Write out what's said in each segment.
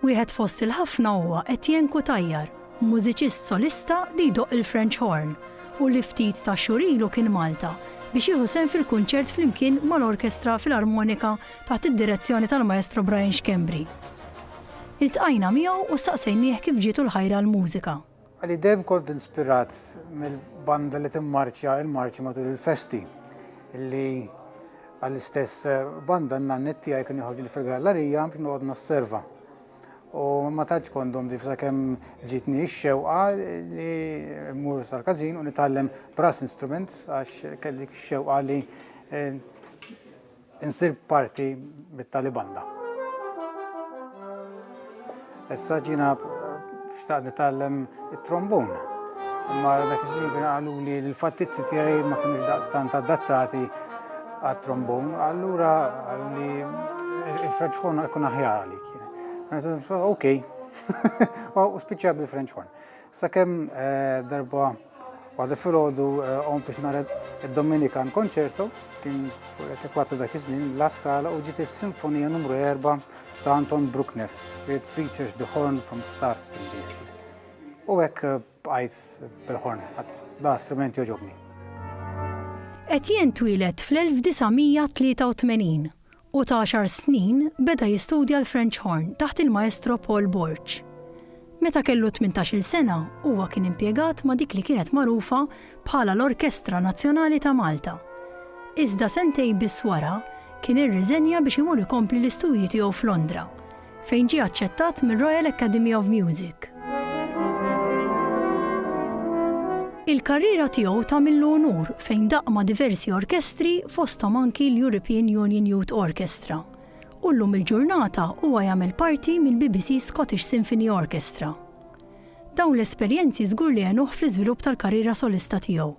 Wieħed fost il-ħafna huwa Etienne Cutajar, mużiċist solista li jdoqq il-French Horn u li ftit ta' xhur ilu kien Malta biex jieħu sehem fil-kunċert flimkien mal-Orkestra Filarmonika taħt id-direzzjoni tal-Maestro Brian Schembri. Iltqajna miegħu u staqsejnieh kif ġietu l-ħajra għall-mużika. Għalli dejjem kont inspirat mill-banda li timmarċja il-marċi matul il-festi, illi għall-istess banda n-nannet tiegħi kien joħorġli fil-gallarija biex noqgħod nosserva. U ma tantx kondom ġif sakemm ġitni x-xewqa li mmur sal-każin u nitgħallem brass instrument għax kelli x-xewqa li eh, Insir parti mit-Talibanda. Issa ġina xtaq nitgħallem it-trombun. Imma dak iż-żmien kien qalu li l-fattizzi tiegħi ma kienux daqstant adattati għat-trombun, allura qalu li il-French horn jkun aħjar għalik. Ok, u spiċċa bil-French horn. Sakemm darba waħda filgħodu qom biex nara d-Dominikan Concerto, kien fuq l-etikwa ta' dak iż-żmien, La Scala u ġiet is-Sinfonija numru 4 ta' Anton Bruckner, it features the horn from start to finish. U hekk bqajt bil-horn, għad da strument jogħġobni. Etienne twieled fl-1983 u ta' għaxar snin beda jistudja l-French Horn taħt il-Maestro Paul Borg. Meta kellu tmintax-il sena huwa kien impjegat ma' dik li kienet magħrufa bħala l-Orkestra Nazzjonali ta' Malta. Iżda sentejn biss wara kien irriżenja biex imur ikompli l-istudji tiegħu f'Londra fejn ġie aċċettat mir-Royal Academy of Music. Il-karriera tiegħu tagħmillu unur fejn daqq ma' diversi orkestri fosthom anki l-European Union Youth Orchestra, u llum il-ġurnata huwa jagħmel parti mill-BBC Scottish Symphony Orchestra. Dawn l-esperjenzi żgur li għenuh fl-iżvilupp tal-karriera solista tiegħu.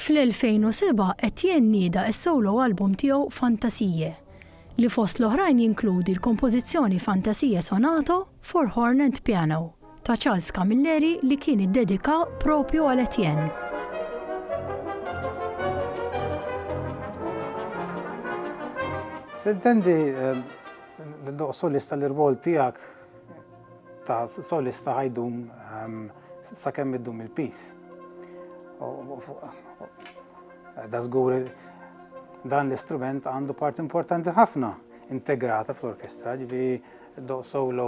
Fl-2007, Etienne nieda s-solo album tiegħu Fantasiae, li fost l-oħrajn jinkludi l-kompożizzjoni Fantasia Sonato for Horn and Piano. ta' Charles Camilleri li kien iddedika propju għal Etienne. Se jdependi ehm, l-doq solista l-irwol tijak ta' solista ħajdum ehm, sa' kemm iddum il-pis. Da' zgur dan l-istrument għandu part importanti ħafna integrata fl-orkestra, ġivi doq solo